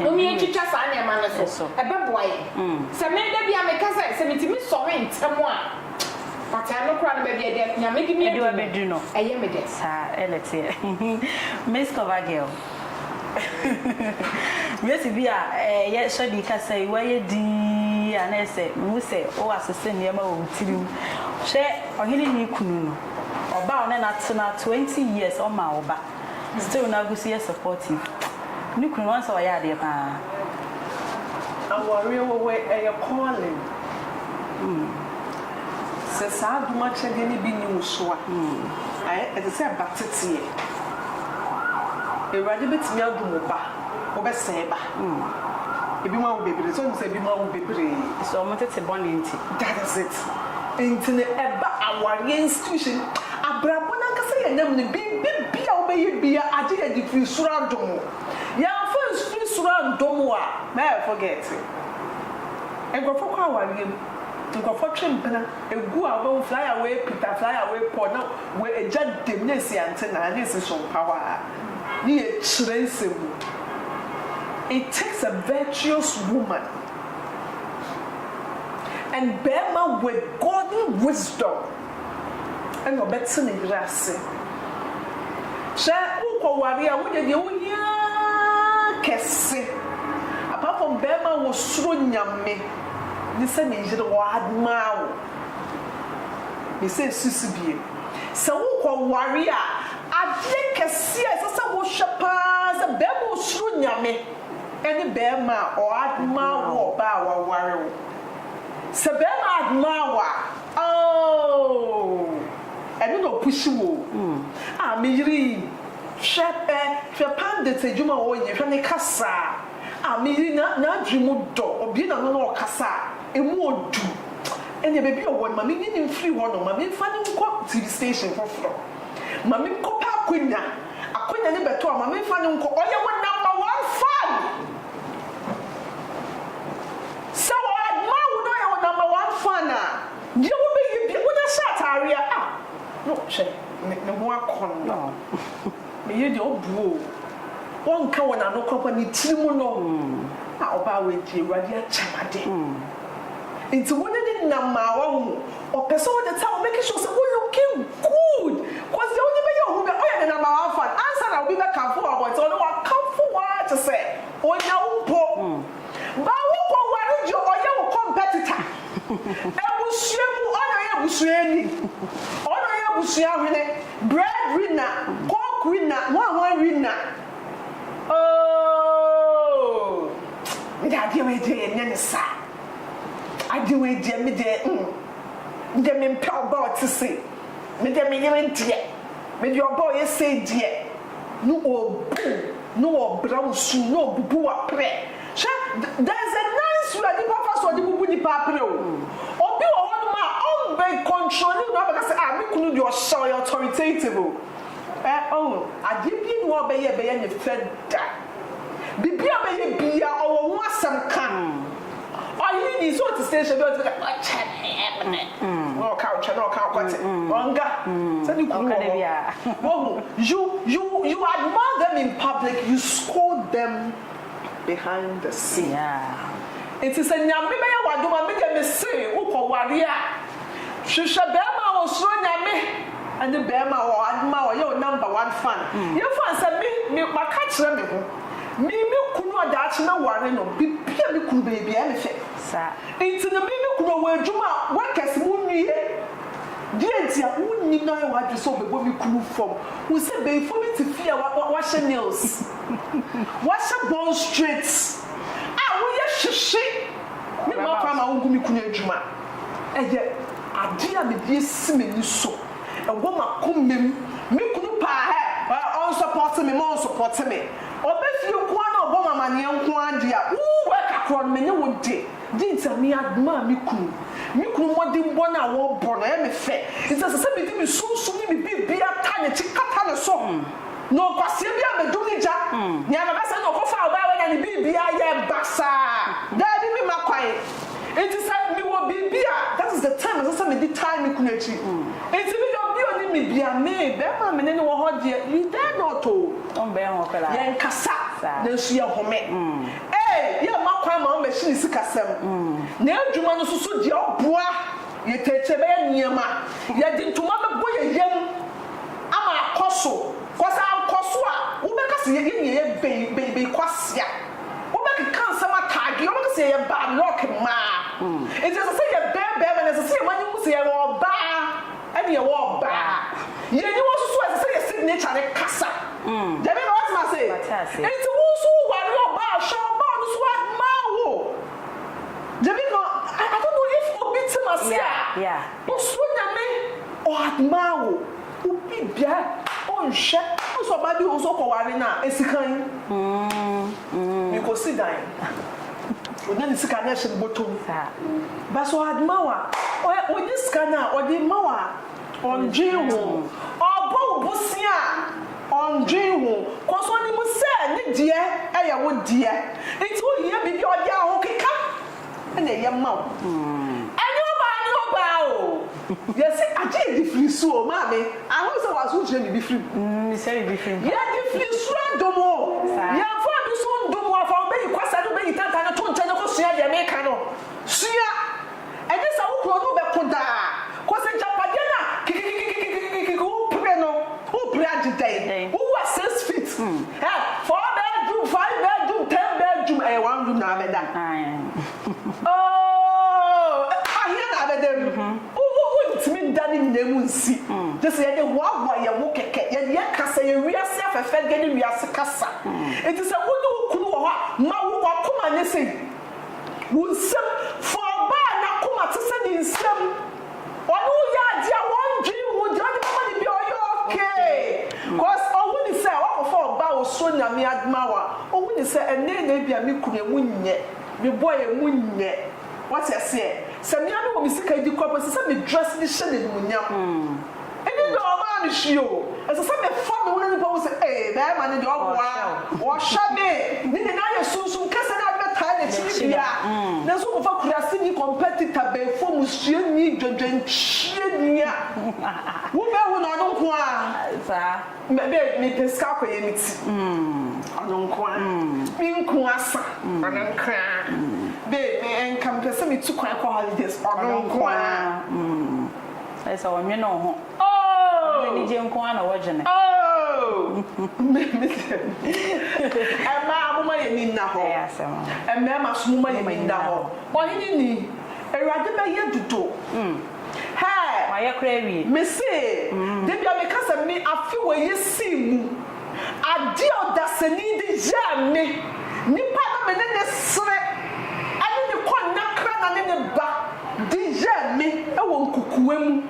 mom yɛn twitwa saa nneɛma no so ɛbɛboa yɛn sɛ me da bi a me ka sɛ sɛ me tumi sɔre ntɛm a fataa no koraa no baabi a ɛde nyame de me adu no ɛyɛ me dɛ. Saa na ɛteɛ Miss Cover girl. Yesu bi a ɛyɛ hyɛden kasa yi, woayɛ dinn a na ɛyɛ sɛ mehu sɛ woasese nneɛma wɔ wo tirim. Hwɛ ɔhene ne ne kunu no, ɔba a ɔne no atena twenty years ɔmmaa wo ba, still na agu so yɛ supportive. Ne kunu no wahu sɛ ɔyɛ adeɛ paa. Awareɛ wɔ hɔ yi ɛyɛ calling. Sɛ saa adom akyɛdeɛ no bi nni wo so a, ayɛ, ɛte sɛ ba teteɛ. Awurade bɛtumi adom wo ba, wobɛsɛe ba. Ebinom awo bebree, sɛ wonim sɛ ebinom awo bebree. So wɔn tete bɔne nti. That is it. Nti no ɛba awareɛ institution, abrabɔ no ankasa yɛn nam no, biribi biara wobɛyɛ biara agye yɛde firi soro adom wo. Yɛamfa ansfiri soro andom wo a, na yɛfɔgɛɛte. Nkorɔfoɔ kɔ awareɛ mu. Nkorɔfoɔ twe mpena gu a wobɛhu flyer wei pita flyer wei pɔ na wei egya dem na esi antenaa na esi sompawa a ne yɛ kyerɛnsɛm mu it takes a virtuous woman and bɛɛma with godly wisdom ɛna ɔbɛte ne yere ase hwɛ wokɔ ware a wodeɛ deɛ wohia kɛse apart from bɛɛma a wosuro nyame. ne sɛ me yere wɔ admaa wo ne sɛ susu biem sɛ wo kɔ ware a adeɛ kɛseɛ a ɛsɛ sɛ wo hwɛ paa sɛ bɛɛma a osuro nyame ɛne bɛɛma a ɔ admaa wo ɔbaa a wa ware wo sɛ bɛɛma admaa wo a ooh ɛno na opushi wo o ah me yere yi hwɛ ɛ hwɛ pandit adwuma a ɔyɛ hwɛ ne kasaa. Ah me yere na n'adwene mu dɔ ɔbue n'ano na ɔkasa a emu ɔdu ɛneɛ baabi a ɔwɔ no ma me nyi no mfiri hɔ nom ma me mfa no nkɔ TV station foforɔ ma me nkɔ pɛ akwanya akwanya no bɛtɔ a ma me mfa no nkɔ ɔyɛ wo number one fan sɛ ɔ admire wo na ɔyɛ wo number one fan a deɛ wo bɛ yɛ bia wo na hyɛ ataareɛ a ah no hwɛ ne ho akɔnnɔ. Me yere deɛ ɔbu o, ɔnka wɔ n'ano korakora, ne tiri mu no, Ah ɔbaa wei deɛ Awurade akyɛ no ade, nti wo ne no nna mmaawa mu, ɔpɛ sɛ all the time ɔmake sure sɛ wo looking good, cos deɛ wode bɛyɛ wo ho biara ɔyɛ ne number one fan, ansa na obi bɛkamfo wo wɔ abɔnten ɔno wakamfo wo ara te sɛ ɔnya wo mpo, but wo kɔ ware deɛ ɔyɛ wo competitor, abusua mu ɔna ɔyɛ abusuani, ɔna ɔyɛ abusua hwene. Bread Rina, Coke Rina, Hwanhwan Rina ooh me deɛ adeɛ wei deɛ yɛnyɛ no saa, adeɛ wei deɛ me deɛ mm me deɛ mempɛ ɔbaa ɔte sei, me deɛ me yere deɛ, me deɛ ɔbaa ɔyɛ sei deɛ, ne ɔbu, ne ɔbra wo su, ne ɔbubu w'aprɛ. Hwɛ, there is a nice way a nipa fa so ɔde bubu nipa apere o. Obi wɔ hɔ nom a ɔmbɛ control ne kunu abɛka sɛ ah me kunu deɛ ɔhyɛ ɔyɛ authoritative o. Ɛ ohu, adeɛ biara nni hɔ a ɔbɛyɛ a ɛbɛyɛ ne fɛ da. Biribi a ɔbɛyɛ biara ɔwɔ ho asɛm ka. Ɔyere deɛ sɛ ɔte station bi a ɔtumi ka ɔkyɛ me ɛ me ne na ɔka ɔtwa na ɔka ɔkɔte. Ɔnka sɛ ne kunu wɔ hɔ. Woahu, you you you admire them in public, you scold them. behind the scene. Yeah. Nti sɛ Nyame bɛyɛ w'adom a, me deɛ me se wo kɔ ware a, hwehwɛ bɛɛma a ɔsuro Nyame, ɛne bɛɛma a ɔma ɔyɛ wo number one fan. Mm. Yɛ fan sɛ me, me, maka kyerɛ me ho, me, me kunu a daakye mɛ ware no, bibia me kunu bɛyɛ bia ɛne fɛ. Sa. Nti no me, me kunu ɔwɔ adwuma a, workers mo nwie, deɛ nti a, wo nyinaa w'adwene sɛ ɔbɛbɔ me kunu fam, wo sɛ bɛyifoɔ bi te fie a, wa, wa, wahyɛ nails. Wɔse bone straight a woyɛ hyehye ne mma kwan ma wongu me kunu adwuma. Ɛyɛ adeɛ a mede asi m'ani so, ɛwɔ m'akomam. Me kunu paa hɛ, ɔnsɔpɔte me ma ɔnsɔpɔte me. Ɔba fie nko ara na ɔbɔ me amaneɛ nko ara deɛ a, wuu wɛka korɔ no me ne wo de. Deɛ nti a me admire me kunu. Me kunu mmɔdenbɔ no a wɔbɔ no ɛyɛ me fɛ. Nti ɛsɛ sɛ mede me sunsum ne me biribiara ta n'akyi kata ne so. Na ɔkwasea bi abɛdum ne gya. Nea mɛka sɛ na ɔkɔfaa ɔbaa wei na ne biribiara yɛɛ basaa. Daabi me mma kwan. Nti sɛ me wɔ biribi a that is the time ɛsɛ sɛ me di tae me kunu akyi. Nti me deɛ obi ɔnim me bia me bɛɛma a me ne no wɔ hɔ deɛ you dare not o. Ɔmbɛn hɔ koraa. Yɛn kasa nanso yɛ home. Ee yɛ mma kwan ma wɔn bɛhye ne sikasɛm. Na adwuma no nso so deɛ ɔboa yɛ tɛkyɛ bɛyɛ nneɛma. Yɛde ntoma bɛbɔ yɛ yam. ama akɔ so, cause ankɔ so a wobɛka sɛ yɛde nea ɛyɛ bɛn bɛn bɛn kwasia, wobɛkeka nsɛm ataageɛ, wobɛka sɛ yɛyɛ bad luck mmaa, nti ɛsɛ sɛ yɛbɛn bɛrima no, ɛsɛ sɛ yɛma no hu sɛ yɛyɛ ɔbaa ɛne yɛwɔ ɔbaa, yɛn aniwa nso so ɛsɛ sɛ yɛn signature no kasa, Gyamie na woatena ase? Mate ase. Nti wo nso wo ware ɔbaa a hwɛ ɔbaa no nso admire wo, Gyamie na I don't know if obi te m'ase a. Yeah, yeah. Osuro Nyame ɔadmaa wo obi bia ɔnhwɛ wo sɛ ɔbaa bi wɔ hɔ sɛ ɔkɔ ware no a esikan ne kɔ si dan ɔnya ne sika no ɛhyɛ ne bɔtɔm but sɛ ɔadmaa wo a ɔnye sika no a ɔde ma wo a ɔndwen ho ɔbɔ wo bosea a ɔndwen ho cos ɔnim sɛ ne deɛ ɛyɛ wo deɛ nti wo hia biribi a ɔde ahokeka na ɛyɛ ma wo. Ɛnyɛ ɔbaa ne ɔbaa o. Yɛse agye yɛde firi su o. Maame, ahu sɛ w'aso nkyerɛ biribi firi mu. Mesua biribi firi mu paa. Yɛde firi su adom wo. Yɛmfa bi so ndom wo. Afa wo bɛ yi kwasa ne wo bɛ yi tantan no to nkyɛn ne kɔ sua deɛ meka no. Sua. Ɛnyɛ sɛ wo kunu ɔne wo bɛko daa. Kɔ sɛ gyapadeɛ no a kikikikikikikikiki wo pere no wo pere agye dɛn Dɛn? wo wu a six feet ɛ four bedroom five bedroom ten bedroom ɛyɛ one room na abɛda Aeeh ooh ahea na abɛda mu wo wo wo ntumi nda ne nyinaa mu nsi gye sɛ yɛde hoahoa yɛn ho kɛkɛ yɛde yɛ kasa yɛ wiase afɛfɛdeɛ ne wiase kasa nti sɛ wo ne wo kunu wɔ hɔ a ma wo wakoma nyɛ sei. Wo nsam fa ɔbaa a n'akoma te sɛ ne nsam, ɔne wo yɛ ade a wondwen ho deɛ ɔde bɛma no biara ɔyɛ okay cos ɔhu ne sɛ woakɔfa ɔbaa a ɔsuro Nyame adma wo a ɔhu ne sɛ ɛnɛɛ na ebia me kunu ɛmu nyɛ, me boy ɛmu nyɛ, wate aseɛ, sɛ me ara mewɔ me sika di koraa mpo ɛsɛ sɛ me dress de hyɛ no animuonyam. Ɛnyɛ deɛ ɔmaa me hwee o. Ɛsɛ sɛ mefa me ho na nipa hu sɛ ee bɛɛma no deɛ ɔboa, ɔhwɛ me. Ne nyinaa yɛ sunsum kasa ne ade bɛtaa n'akyiri bea. Nanso wofa kuraseni, competitor, bɛɛfo mu suani, dwodwonkyerɛni a, wobɛhu no ɔno nko ara. Me de mepɛ sika akɔyɛ me ti, ɔno nko ara. Me nku asa, ɔno nko ara. Babe me nka mepɛ sɛ metu kwan kɔ holidays, ɔno nko ara. Ayɛ sɛ ɔnnwene wo ho. Ɔno n'anigye nko ara na ɔdwene. Mmaa, momma yɛn ani nna hɔ. Mmarima nso, momma yɛn ani nna hɔ. Ɔhene ni, Awurade bɛyɛ dodo. Hɛɛ! Mayɛ koraa awie. Mese, da bi a meka sɛ me afe wei asim mu. Ade a ɔdasani de yɛɛ me, nipa a na me ne no sere, ne ne kɔnnakra na ne ne ba de yɛɛ me wɔ nkukuwa mu,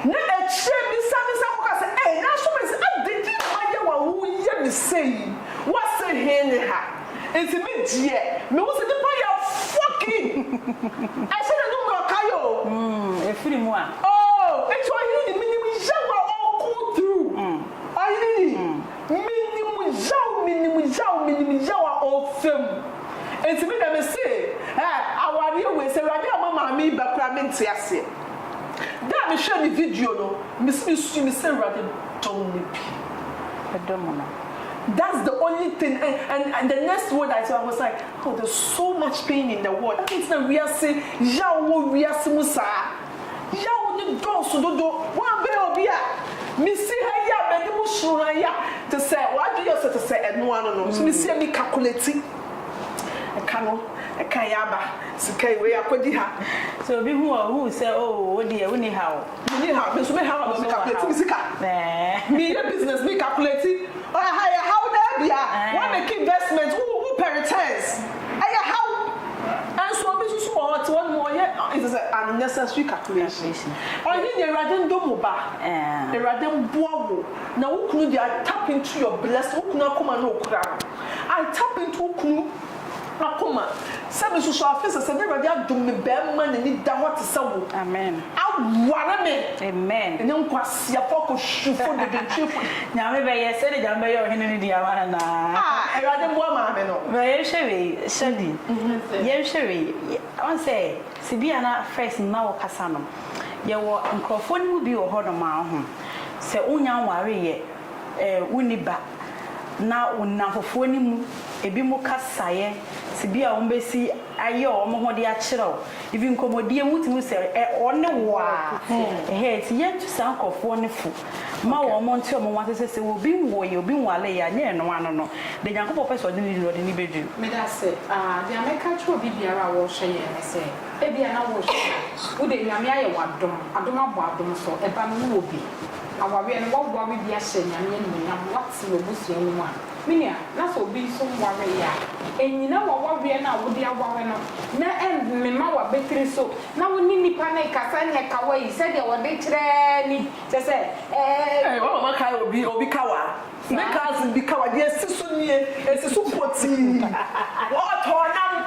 na akyire yi me san me san kɔka sɛ, Ei, nanso me se, ade nti na mayɛ wo a woreyɛ me sei yi? Woase he ne ha? Nti me deɛ, me hu sɛ nipa yɛ fucking, ɛhyɛ n'anum na ɔka yɛ o. Mm, ɛfiri mu a. Oh, nti ɔhene de menim yaw a ɔɔkoo through. Aii menim yaw menim yaw menim yaw a ɔfa mu nti me deɛ me se eh awareɛ wei sɛ awurade amma maame yi ba koraa me nte aseɛ da a me hwɛ ne video no me se me sui me se awurade dɔm no bi ɛdɔ mu no that's the only thing eh and and the next word I saw I was like oh there's so much pain in the world adɛn nti na wiase yaw wɔ wiase mu saa. Yaw no dɔɔso dodo. Woambɛn obi a misi ha yi a m'ani mu suro ha yi a, te sɛ w'adwene yɛ sɛ te sɛ ɛno ano no. So misi a me kakolati ɛka no, ɛka yi aba, sika yi, wei akɔdi ha. Sɛ obi hu a, ohu sɛ oh wo deɛ wonni haw. Menni haw. Me nso me haw no, me kakolati me sika. Meyɛ business, me kakolati. Ɛha yɛ haw daabia. Woamake investment, wo pɛ returns. Ɛyɛ haw. Nso obi nso so wɔ hɔ ɔte hɔ nom ɔyɛ nsɛ sɛ unnecessary calculations. Ɔnye deɛ Awurade ndɔ mu ba. Awurade mboa wo na wo kunu deɛ I tap into your blessing wo kunu akoma na okura no. I tap into wo kunu akoma sɛ me nso so afe sɛsɛ na Awurade adom me bɛɛma n'ani da hɔ te sɛ wo aware me. Ɛnyɛ nkwasea. Siapɔ kɔ sufo dedentwefo yi. Nyame bɛyɛ sɛdeɛ Nyame bɛyɛ ɔhene no di ama no anaa? Ah Awurade mboa maame no. Bra yɛnhwɛ wei, Shady, yɛnhwɛ wei, woahu sɛ sɛ bi a na first mma wo kasa no, yɛwɔ nkorɔfoɔ no mu bi wɔ hɔ nom a woahu, sɛ wo nya nwareeɛ, eh, wo nni ba, na wo nnamfofoɔ no mu ebi mo kasaeɛ, sɛ bi a wɔn bɛsi. ayɛ wɔn ho de akyerɛ wo even nkɔmɔdie mu wotumi hu sɛ ɛ wɔne wo a ɛhɛɛ nti yɛntu saa nkorɔfoɔ no fo ma wɔn mo nte wɔn ho ase sɛ sɛ obi nwoeɛ obi nwareeɛ a nyɛ ɛno ano no deɛ Nyankopɔn pɛ sɛ ɔde no di no ɔde no bɛduru. Medase. Aah deɛ mɛka akyerɛ obi biara a wɔrehwɛ yɛn ne sɛ ebia na worehwɛ a wo deɛ Nyame ayɛ wo adom, adom abɔ adom so ɛba no wowɔ bi, awareɛ no woaware bi ahyɛ Nyame animuonyam, woate w'abusua no mu a, Me nua, na sɛ obi nso nwaree a, nnyina w'awareɛ no a wode aware no, na mmema w'abatiri so, na wo ne nnipa no rekasa nyɛ kawa yi sɛdeɛ wɔde kyerɛ ni, kyerɛ sɛ, ɛɛ. Ei, wo mama kae obi, obi kawa? Me cousin bi kawa, deɛ ɛsi so nie, ɛsi so potii, ɔtɔɔ nam.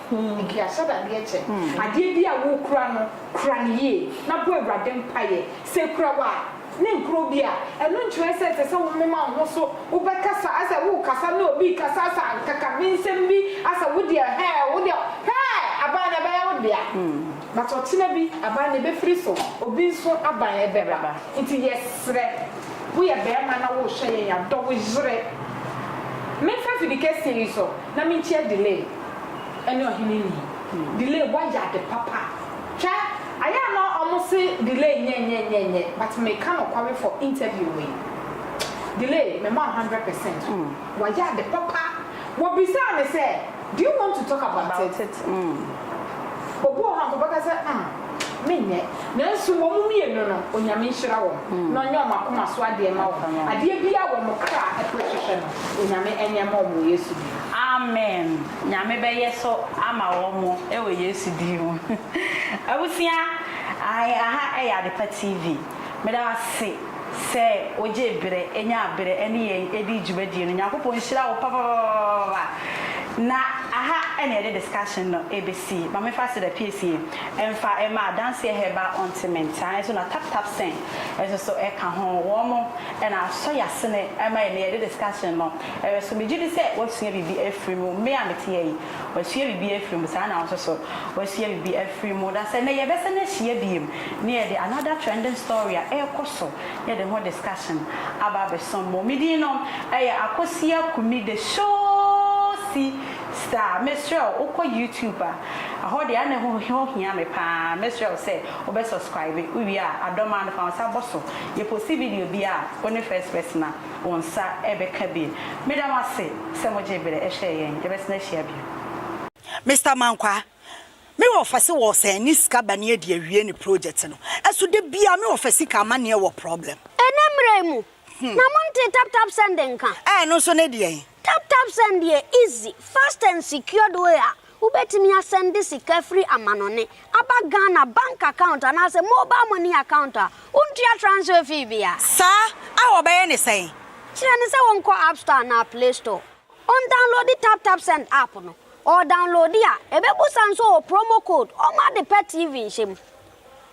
Ntua sradeɛ kyɛ. Adeɛ biara a worekura no, kura no yie, na bɔ Awurade mpaeɛ. Sɛ ɛkura wo a, ne nkura obi a, ɛno nkyerɛ sɛ ɛsɛ sɛ womema wo ho so, wobɛkasa, asɛ worekasa ne obi rekasa, asɛ akakabensɛm bi, asɛ wo deɛ hɛɛ, wo deɛ hɛɛ, aban no ɛbɛyɛ wo dea. But ɔkyena bi, aban no ɛbɛfiri so, obi nso aban ɛbɛba. Nti yɛsrɛ, woyɛ barima na worehwɛ yɛn a, dɔ wo yere. Memfa afidikɛseɛ yi so. na menkyia Delay ɛne ɔhene ni Delay wayɛ ade papa hwɛ ayɛ a na ɔmo se Delay nyɛ nyɛ nyɛ nyɛ but meka nokware for interview wei Delay mema wo hundred percent wayɛ ade papa wɔbisaa me sɛ do you want to talk about it obi wɔ hɔ a nka ɔbɛka sɛ umm. menyɛ. Nanso wɔn mmienu no, Onyame nhyira wɔn, na ɔnyɛ wɔn akoma so adeɛ mma wɔn. Adeɛ biara a wɔn kra pere hwehwɛ no, Onyame nyɛ mma wɔn wɔ Yesu din mu. Amen Nyame bɛyɛ so ama wɔn wɔ Yesu din mu. Abusua, ahe aha yɛ Adepa TV. Meda wo ase. sɛ ogye berɛ, nya berɛ ne yɛn di dwumadie no. Nyankopɔn nhyira wo papapapapapa. Na aha na yɛde discussion no bɛsi. Ma me fa Seda piesie mfa ma Adanseɛ Herbal Ontiment saa nso na Tap Tap Sing nso so ka ho. Wɔn mo na asɔ y'asene ma yɛn na yɛde discussion no ɛbɛso. Megyedi sɛ w'asua biribi afiri mu. Me a meteɛ yi. Wasua biribi afiri mu, saa ara na wo nso so woasua biribi afiri mu. Na sɛ nnɛ yɛbɛsan ahyia bio na yɛde another trending story a ɛrekɔ so, yɛde ho discussion aba abɛsom mo. Me din no yɛ Akosua Kumi The Showsi Star. Mesrɛ wo, wokɔ YouTube a, ɛhɔ deɛ ɛna ɛho hia me pa ara. Mɛsrɛ wo sɛ wobɛ subscribe, wowie a adɔ me ara no fa wo nsa bɔ so. Yɛposti video biara a, wone first person a. Wo nsa rebɛka bi. Meda mo ase sɛ mogyee berɛ hwɛɛ yɛn. Yɛbɛsan ahyia bio. Mister Mankwa, me wɔfa se wɔ sɛn ne sika ba ne adi awie ne project no ɛso da biaa me wɔfa sika amaneɛ wɔ problem. Ɛnɛ mmerɛ yi mu na monte tap tap send nka. Ɛɛ ɛno nso ne deɛn. TapTap Send yɛ easy, fast and secured way a wobɛtumi asɛnde sika firi amanɔne aba Ghana bank account anaasɛ mobile money account a wontua transfer fee bia. Saa a wɔbɛyɛ ne sɛn? Kyerɛ no sɛ ɔnkɔ App Store anaa Play Store, ɔndownloadi TapTap Send app no, ɔredownloadi a, ɛbɛbusa nso wɔ promo code, ɔmma ade pa TV nhyɛ mu.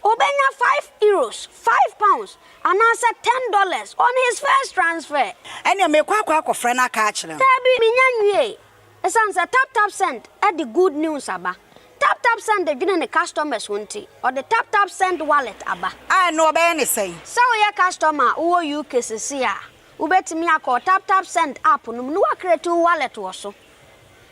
Obenya five euros, five pounds, anaasɛ ten dollars on his first transfer. Ɛnneɛ mekɔ akɔ akɔfrɛ no aka akyerɛ no. Dabi, menya nwiei. Esiane sɛ TapTapSend de good news aba, TapTapSend dwene ne customers ho nti, ɔde TapTapSend Wallet aba. A, ɛnneɛ ɔbɛyɛ no sɛn? Sɛ woyɛ customer a wowɔ UK seesei a, wobɛtumi akɔ TapTapSend app no mu na woacreate wo wallet wɔ so.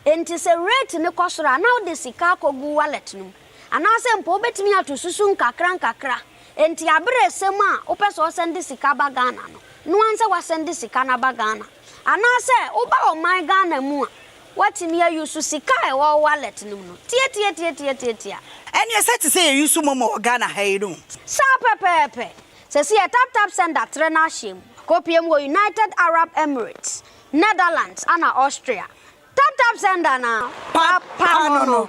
Enti sɛ rate no kɔ soro a, na wode sika akɔgu wallet no mu. Anaasɛ mpo wobɛtumi ato susu nkakrankakra. Enti aberɛ resɛ mu a wopɛ sɛ wosɛnde sika ba Ghana no, no ara sɛ woasɛnde sika no aba Ghana. Anaasɛ woba ɔman Ghana mu a, woatumi a use sika a ɛwɔ wo wallet no mu no. Tiatiatiatiatiatia. Ɛneɛ sɛ te sɛ yɛ use momo wɔ Ghana ha yi no. Saa pɛpɛɛpɛ. Sɛsi yɛ tap tap send atrɛ no ahyɛ mu. Kɔpie mu wɔ United Arab Emirates. Netherlands ana Austria? Tap tap send ana pa pa no no.